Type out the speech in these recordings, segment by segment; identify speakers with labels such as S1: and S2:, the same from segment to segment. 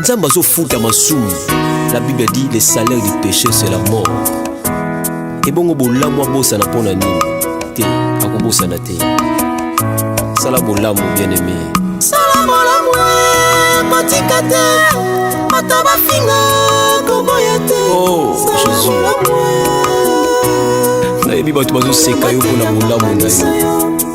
S1: nzambe azofuta masumu la bible a dit le salaire du péché c'est la mort ebongo bolamu abosana mpo na nini te akobosana te sala bolamu bien aimé sala bolamu
S2: kotika te ata bafinga koboya te oh,
S1: nayebi bato bazoseka yo mpo na bolamu na yo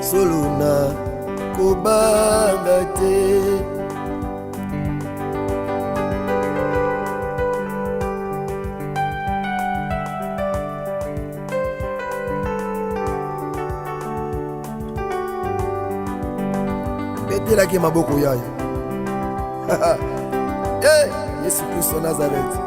S3: solo na kobanga te betelaki maboko yayo hey, eh, yesu kristo nazareti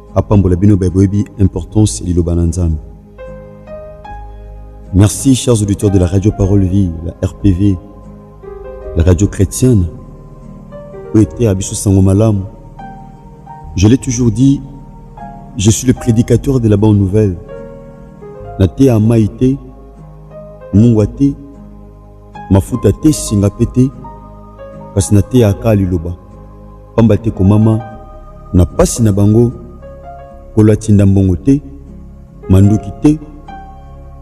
S4: apambola bino baye boyebi importance ya liloba na nzambe merci chers auditeurs de la radio parole vie la rpv la radio chrétienne oyo eteya biso sango malamu je l'ai toujours dit je suis le prédicateur de la bonne nouvelle nateya mai te mungwa te mafuta te, singa mpe te, kasi nateyaka liloba, mpamba te komama na pasi na bango, Nkolo atinda mbongo te, manduki te,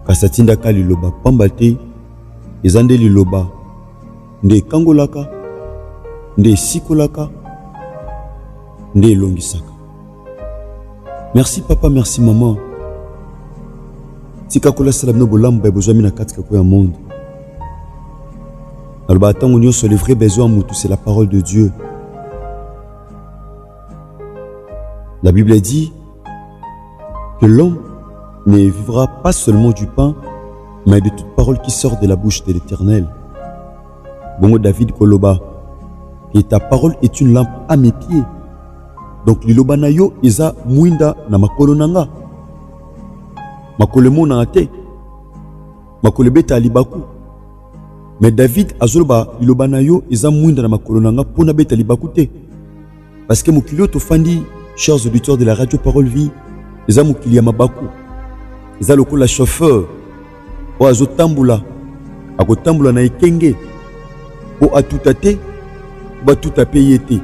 S4: kasi atindaka liloba, mpamba te eza nde liloba nde ekangolaka, nde esikolaka, nde elongisaka. merci papa merci maman tika nkolo asala bino bolamu baye bozwami na kati kako ya monde nalobaka ntango nyonso le vrai besoin ya motu c'est la parole de dieu la bible dit que l'homme ne vivra pas seulement du pain mais de toute parole qui sort de la bouche de l'éternel bongo david koloba et ta parole est une lampe à mes pieds Donc liloba na yo eza mwinda na makolo na nga. Makolo emonana te. Makolo ebeta libaku. Mais David azoloba liloba na yo eza mwinda na makolo na nga mpo nabeta libaku te. Parce que mokili oyo tofandi, chers auditeurs de la radio Parole Vie, eza mokili ya mabaku. Eza lokola chauffeur Oyo azotambola akotambola na ekenge mpo atuta te batuta mpe ye te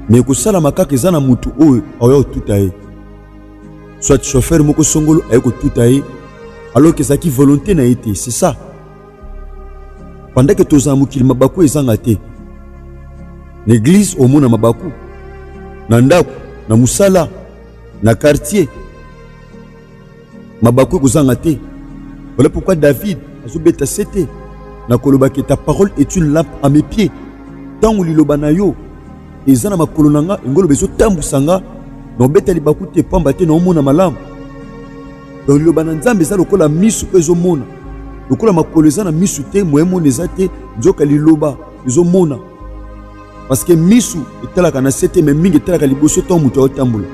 S4: me ekosalama kaka eza na motu oyo aoya kotuta ye soit chauffeur moko songolo aye kotuta ye alors que ezalaki volonté na ye te c'est ça pandake tozala mokili mabaku ezanga te na eglize omona mabaku na ndako na mosala na quartier mabaku ekozanga te voilà pourquoi david azobeta sete na koloba ke ta parole est une lampe à mes pieds ntango liloba na yo eza na makolo na nga yango oloba ezotambwisa nga na obeta libaku te mpamba te naomona malamu donc liloba na nzambe eza lokola misu mpe ezomona lokola makolo eza na misu te moye mona eza te nzoka liloba ezomona parce que misu etalaka na sete mais mingi etalaka liboso ntango moto aotambola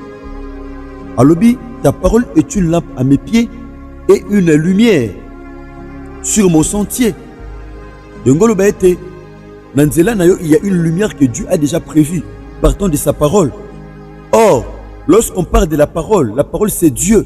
S4: alobi ta parole est une lampe à mes pieds et une lumière sur mon sentier yango oloba ete na nzela na yo il y a une lumière que dieu a déjà prévue partant de sa parole or lorsqu'on parle de la parole la parole c'est dieu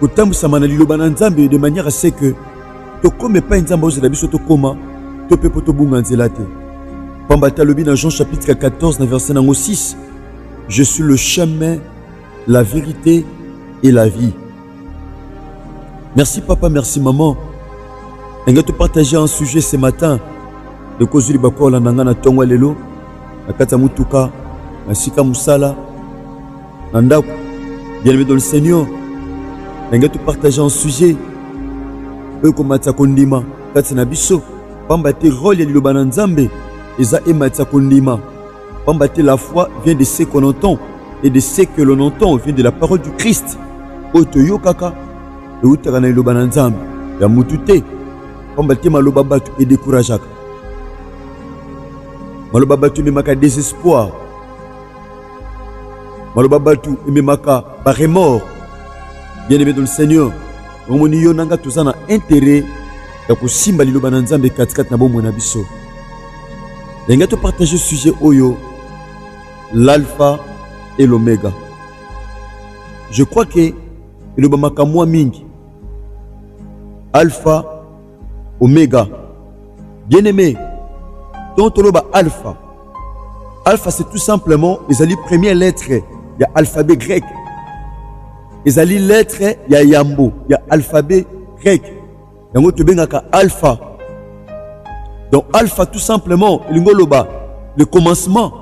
S4: kotambwisama na liloba na nzambe de manière se que tokoma epai nzambe aozela biso tokoma to mpe mpo tobunga nzela te pamba te alobi na jean chapitre 14 na verset nango 6 je suis le chemin la vérité et la vie merci papa merci maman ndenge topartage un sujet ce matin ekozwi libakola na ngai na ntongo ya lelo na kati ya motuka na esika mosala na ndako bien-aimé dans le seigneur ndenge topartage en sujet oyo komatisa kondima kati na biso pamba te role ya liloba na nzambe eza ematisa kondima pamba te la foi vient de ce qu'on entend et de ce que l'on entend vient de la parole du christ oyo toyokaka eutaka na liloba na nzambe ya mutu te pamba te maloba bato edekurageaka maloba bato ememaka desespoir maloba batu ememaka ba remords bien aimé dans le seigneur omoni yo na nga toza na intérêt ya kosimba liloba na nzambe katikati na bomoi na biso ndenge topartage sujet oyo l'alpha et l'omega je crois ke elobamaka mwa mingi alpha Omega. Bien aimé, donc toloba alpha. Alpha c'est tout simplement ezali première lettre ya alphabet grec. Ezali lettre ya yambo ya alphabet grec. Yango tobengaka alpha. Donc alpha tout simplement elingi oloba le commencement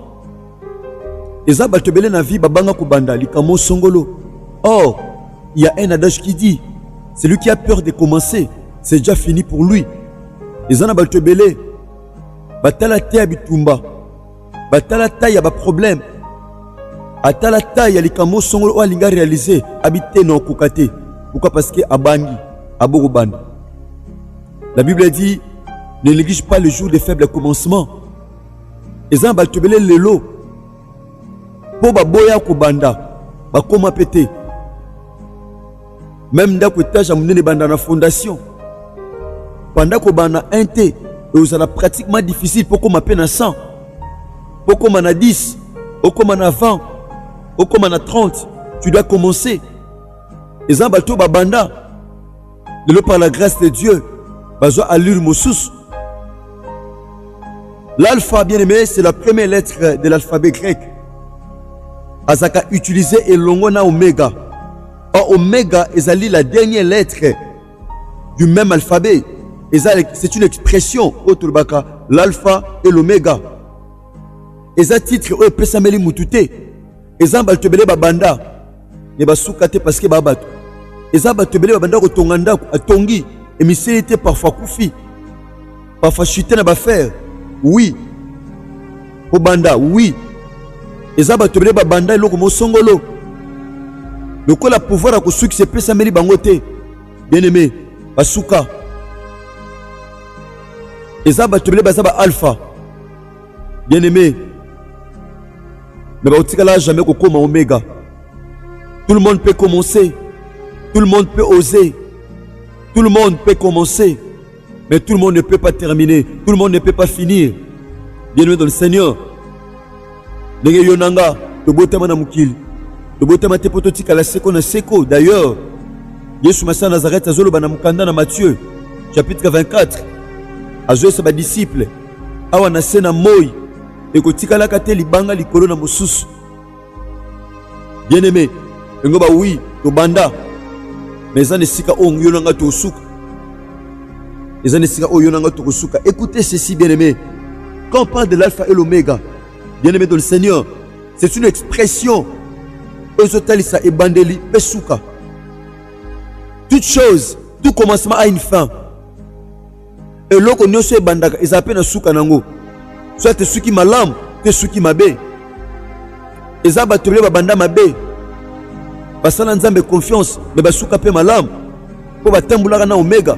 S4: eza bato ebele na vie babanga kobanda likambo songolo or il y a un adage qui dit celui qui a peur de commencer c'est déjà fini pour lui eza na bato ebele batala te ya bitumba batala tai ya baproblème atala tai ya likambo songolo oyo alingi arealize abi te na okoka te pourquoi parce que abangi abokobanda la bible dit ne néglige pas le jour des faibles commencements eza na bato ebele lelo mpo baboya kobanda bakoma mpe te meme ndako etage ya monene ebanda na fondation banda kobanda 1 te ekozala pratiquement difficile mpo okoma mpe na 100 mpo okoma na 10 okoma na 20 okoma na 30 tu dois commencer eza bato babanda lelo par la grâce de dieu bazwa allure mosusu l'alpha bien aimé c'est la première lettre de l'alphabet grec azalaka utilise elongo na omega or omega ezali la dernière lettre du même alphabet c'est une expression oyo tolobaka l'alpha et l'omega eza titre oyo epesameli motu te eza na bato ebele babanda me basuka te parceke baa bato eza bato ebele babanda kotonga ndako atongi emiseli te parfois akufi parfois chute na bafere wi kobanda wi eza bato ebele babanda eloko mosongolo lokola pouvoir ya kosukisa epesameli bango te bien aime basuka eza bato ebele baza ba alpha bien aime mais bakotikala jamais kokoma omega tout le monde peut commencer tout le monde peut oser tout le monde peut commencer mais tout le monde ne peut pas terminer tout le monde ne peut pas finir bien aimé dans le seigneur ndenge yo na nga tobotama na mokili tobotama te mpo totikala seko na seko d'ailleurs yesu masiya nazarete azoloba na mokanda na matthieu chapitre 24 azoyesa badisiple awa na se na moi ekotikalaka te libanga likolo na mosusu bien aime yango ba oui tobanda me eza na esika oyo yo na ngai tokosuka eza na esika oyo yo na ngai tokosuka écoutez ceci bien aime quand on parle de l'alpha et l'oméga bien aime dans le seigneur c'est une expression oyo ezotalisa ebandeli mpe suka toute chose tout commencement a une fin eloko nyonso ebandaka ezala mpe na suka na yango soit esuki malamu to esuki mabe eza bato ebele babanda mabe basala nzambe confiance me basuka mpe malamu mpo batambolaka na omega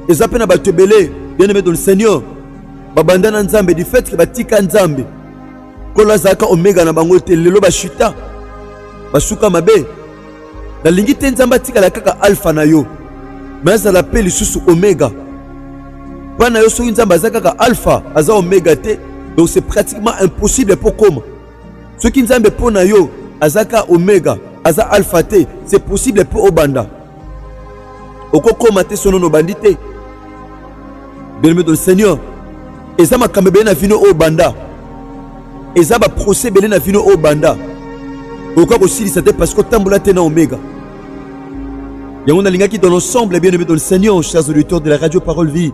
S4: eza mpe na bato ebele bien aimé dans le seigneur babanda na nzambe du fait ke batika nzambe nkolo azalaka omega na bango te lelo bashita basuka mabe Nalingi te Nzambe atikala kaka alfa na yo, me azala mpe lisusu omega. Mpo na yo soki Nzambe aza kaka alfa, aza omega te, donc c'est pratiquement impossible mpo koma. Soki Nzambe mpo na yo aza kaka omega, aza alfa te, c'est possible mpo obanda. Okokoma te sono nobandi te. Bien-aimé dans le Seigneur, eza makambo ebele na vino oyo banda. eza ba procès ebele na vino oyo banda okoka kosilisa te parce que otambola te na omega yango nalingaki dans l'ensemble bien aimé dans le seigneur chers auditeurs de la radio parole vie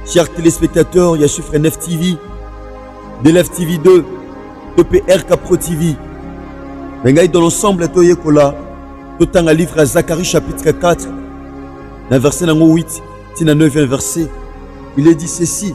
S4: chers téléspectateurs ya chiffre 9 tv de lf tv 2 epr capro tv na ngai dans l'ensemble toyekola totanga livre ya zacharie chapitre 4 na verset nango 8 ti na 9 verset il est dit ceci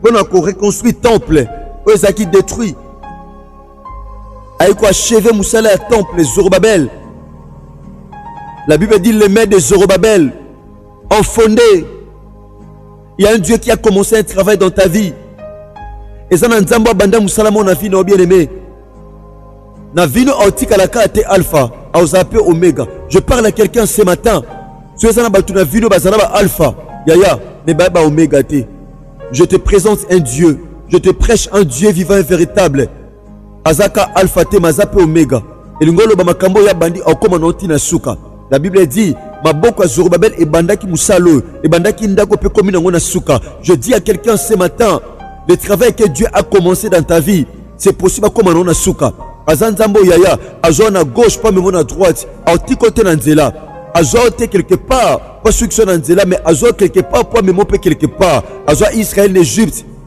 S4: mpo na koreconstruire temple oyo ezalaki détruit aye koacheve mosala ya temple zorobabel la bible dit le maire de zorobabel ont fondé il y a un dieu qui a commencé un travail dans ta vie eza na nzambe abanda mosala mona vi na yo bien aimé na vino aotikala kaka te alpha aoza pe omega je parle à quelqu'un ce matin soki eza na bato na vino baza na baalpha yaya me baya baomega te je te présente un dieu je te prêche un dieu vivant et véritable aza ka alpha te me aza mpe omega elingi oloba makambo oyo abandi akoma na ntina suka La Bible dit maboko ya Zorobabel ebandaki mosala oyo, ebandaki ndako mpe komi nango na suka. Je dis à quelqu'un ce matin, le travail que Dieu a commencé dans ta vie, c'est possible akoma nango na suka. Aza nzambe oyo yaya azwa na gauche mpe amema na droite, aotiko te na nzela, azwa te quelque part mpo asukisa na nzela, mais azwa quelque part mpo amema mpe quelque part, azwa Israël na Egypte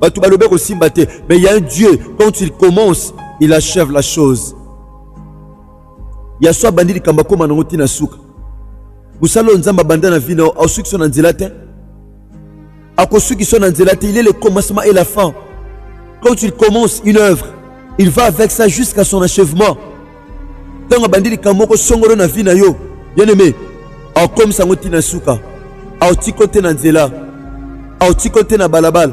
S4: bato balobi ekosimba te mais il y a un dieu quand il commence il achève la chose ya so abandi likambo akóma nango ntina suka mosala oyo nzambe abanda na vi na yo aosuki so na nzela te akosuki so na nzela te il est le commencement et la fin quand il commence une œuvre il va avec ça jusqu'à son achèvement ntango abandi likambo moko songolo na vi na yo bien-aime akokomisa yango ntina suka aotiko te na nzela aotiko te na balabala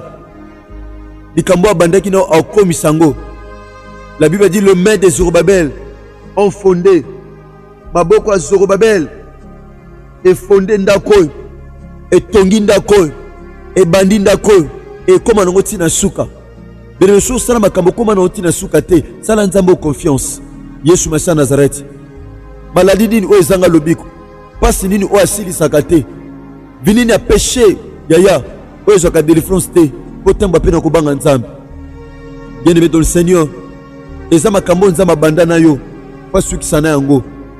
S4: likambo abandaki na aokomisa yango la bible dit le main de zorobabel ont fondé maboko ya zorobabel efonde ndako oyo etongi ndako oyo ebandi ndako oyo ekóma nango ntina suka bino soki osala makambo okóma nango ntina suka te sala nzambe o confiance yesu masiya nazareti maladi nini oyo ezanga lobiko mpasi nini oyo asilisaka te vinini ya peshe yaya oyo ezwaka delivrance te mpo ntango mpe na kobanga nzambe bien aimé dans le seigneur eza makambo oyo nzambe abanda na yo mpo asukisa na yango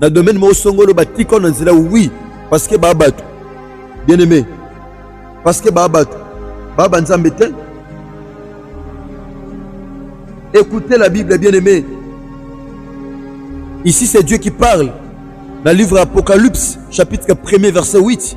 S4: na domaine moko songolo batika na nzela oui parce que ba bato bien aimé parce que ba bato ba ba nzambe te écoutez la bible bien aimé ici c'est Dieu qui parle dans le livre Apocalypse chapitre 1 verset 8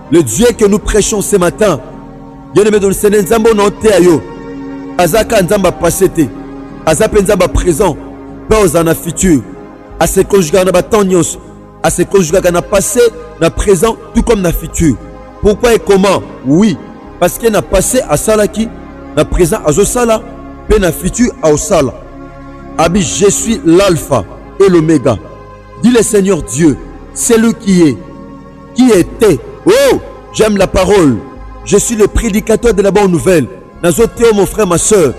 S4: Le Dieu que nous prêchons ce matin, bien aimé dans le Seigneur, Nzambe on oteya yo, azaka Nzambe a passé te, aza pe Nzambe a présent, pe oza na futur, a se conjuguer na ba temps nyonso, a se conjuguer na passé, na présent, tout comme na futur. Pourquoi et comment? Oui, parce que na passé asalaki, na présent azosala, pe na futur aosala. Abi, je suis l'alpha et l'oméga. Dis le Seigneur Dieu, celui qui est, Qui était Oh, j'aime la parole. Je suis le prédicateur de la bonne nouvelle. Nazo teo mon frère, ma soeur.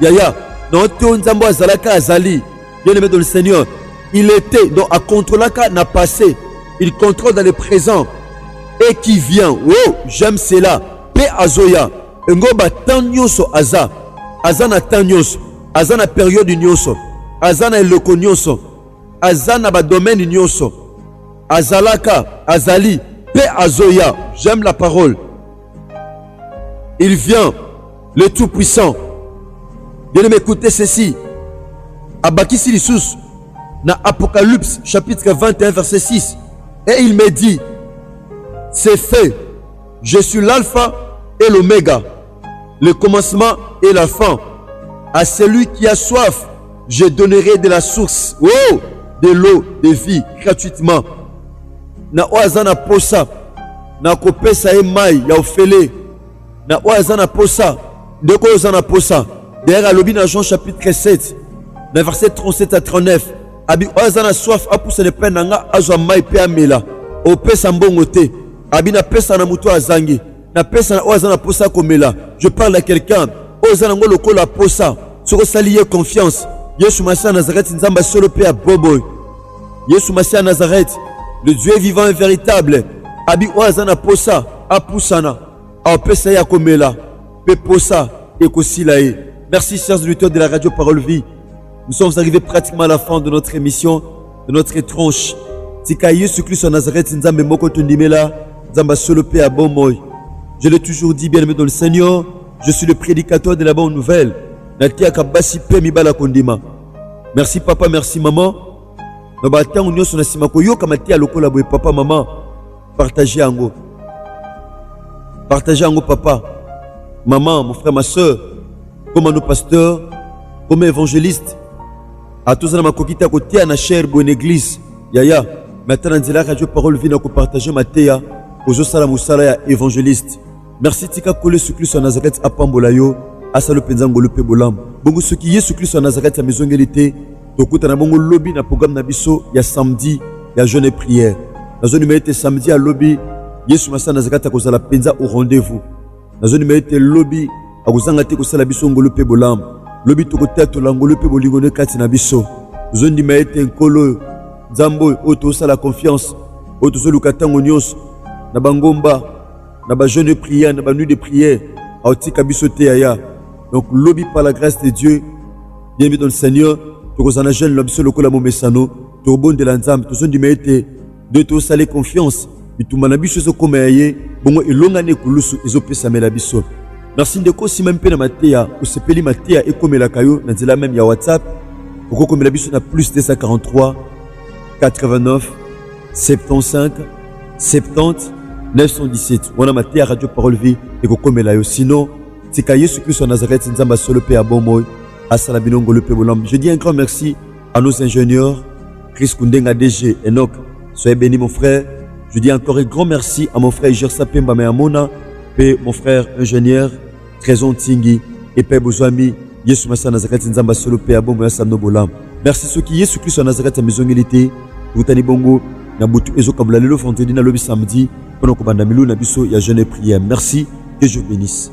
S4: Yaya, non teo nzambo azalaka azali. Bien aimé dans le Seigneur. Il était, donc à contrôlaka n'a passé. Il contrôle dans le présent. Et qui vient. Oh, j'aime cela. Pe azoya. Ngo ba temps nyonso aza. Aza na temps nyonso. Aza na période nyonso. Aza na eloko nyonso. aza na ba domaine nyonso azalaka azali pe azoya j'aime la parole il vient le tout puissant bien aime écoutez ceci abakisi lisusu na apocalypse chapitre 21 verset 6 et il me dit c'est fait je suis l'alpha et l'oméga le commencement et la fin. À celui qui a soif, je donnerai de la source, oh, de l'eau de vie gratuitement. Na oyo aza na posa nakopesa ye mai ya ofele na oyo aza na posa ndeko oyo oza na posa dayere alobi na jean chapitre 7 na verset 37 à 39 abi oyo aza na soif apusana epai na nga azwa mai mpe amela opesa mbongo te abi napesa na moto azangi napesa na oyo aza na mposa akomela je parle ya quelqu'un oyo eza nango lokola mposa soki osali ye confiance yesu masiya nazareti nzambe ya solo mpe ya bobo yesu masiya nazareti le dieu vivant et véritable abi oyo aza na mposa apusana apesa ye akomela mpe mposa ekosila ye merci chers auditeurs de la radio parole vie nous sommes arrivés pratiquement à la fin de notre émission de notre tranche tika yesu kristo ya nazareti nzambe moko tondimela nzambe asolo mpe ya bomoi je l'ai toujours dit bien aimé dans le seigneur je suis le prédicateur de la bonne nouvelle nateyaka basi mpe mibala kondima merci papa merci maman na bantango nyonso na nsima koyoka mateya lokola boye papa mama partage yango partage yango papa mama mon frère ma soeur koma no pasteur koma évangéliste atoza na makoki te ya koteya na chaire boye na eglize yaya me ata na nzela ya radio parole vie na kopartage mateya ozosala mosala ya evangeliste merci tika kolo yesu kristo ya nazareti apambola yo asala mpenza ngolu mpe bolamu bongo soki yesu kristo ya nazareti amizongeli te tokutana bongo lobi na programme na biso ya samedi ya jeune prière nazonima ete samedi ya lobi yesu masana nazareti akozala mpenza au rendez-vous nazondima ete lobi akozanga te kosala biso ngolu mpe bolamu lobi tokotatola ngolu mpe bolingo nde kati na biso tozondima ete nkolo oyo nzambe oyo oyo tozosala confiance oyo tozoluka ntango nyonso na bangomba na bajeune de prière na banuit de prière aotika biso te yaya donc lobi par la grâce de dieu bien biso seigneur tokozala na jeune na biso lokola momesano tobondela nzambe tozondima ete nde tosale confiance bitumba na biso ezokoma ya ye bongo elonga na ekulusu ezopesamela biso merci ndeko osimami mpe na mateya osepeli mateya ekomelaka yo na nzela meme ya whatsapp okokomela biso na plus 243 89 75 70 917 wana mateya radio parole vie ekokomela yo sinon tika yesu kristo ya nazareti nzambe ya solo mpe ya bomoi asala bino ngolu mpe bolamu je dis un grand merci À nos ingénieurs, Chris Kundenga DG, Enoch, soyez béni mon frère. Je dis encore un grand merci à mon frère Gersa Pemba Meamona, et mon frère ingénieur Trésor Tingi, et Père Bouzouami, Yesu Massa Nazareth Nzamba Solo Père Bombo Yassano Bolam. Merci ceux qui Yesu Christ Nazareth Mizongilité, Routani Bongo, Nabutu Ezo Kabula Lelo Fantedi Nalobi Samedi, Onokobanda Milou Nabiso, Ya Jeune Prière. Merci, que je bénisse.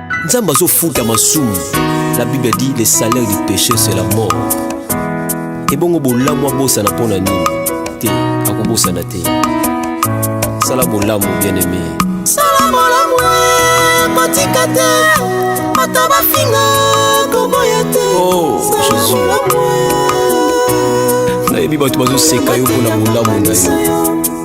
S1: nzambe azofuta masumu la bible a dit le salaire du péché c'est la mort ebongo bolamu abosana mpo na nini te akobosana te sala bolamu bien aimé sala bolamu
S2: kotika te ata bafinga koboya te oh,
S1: nayebi bato bazoseka yo mpo na bolamu na yo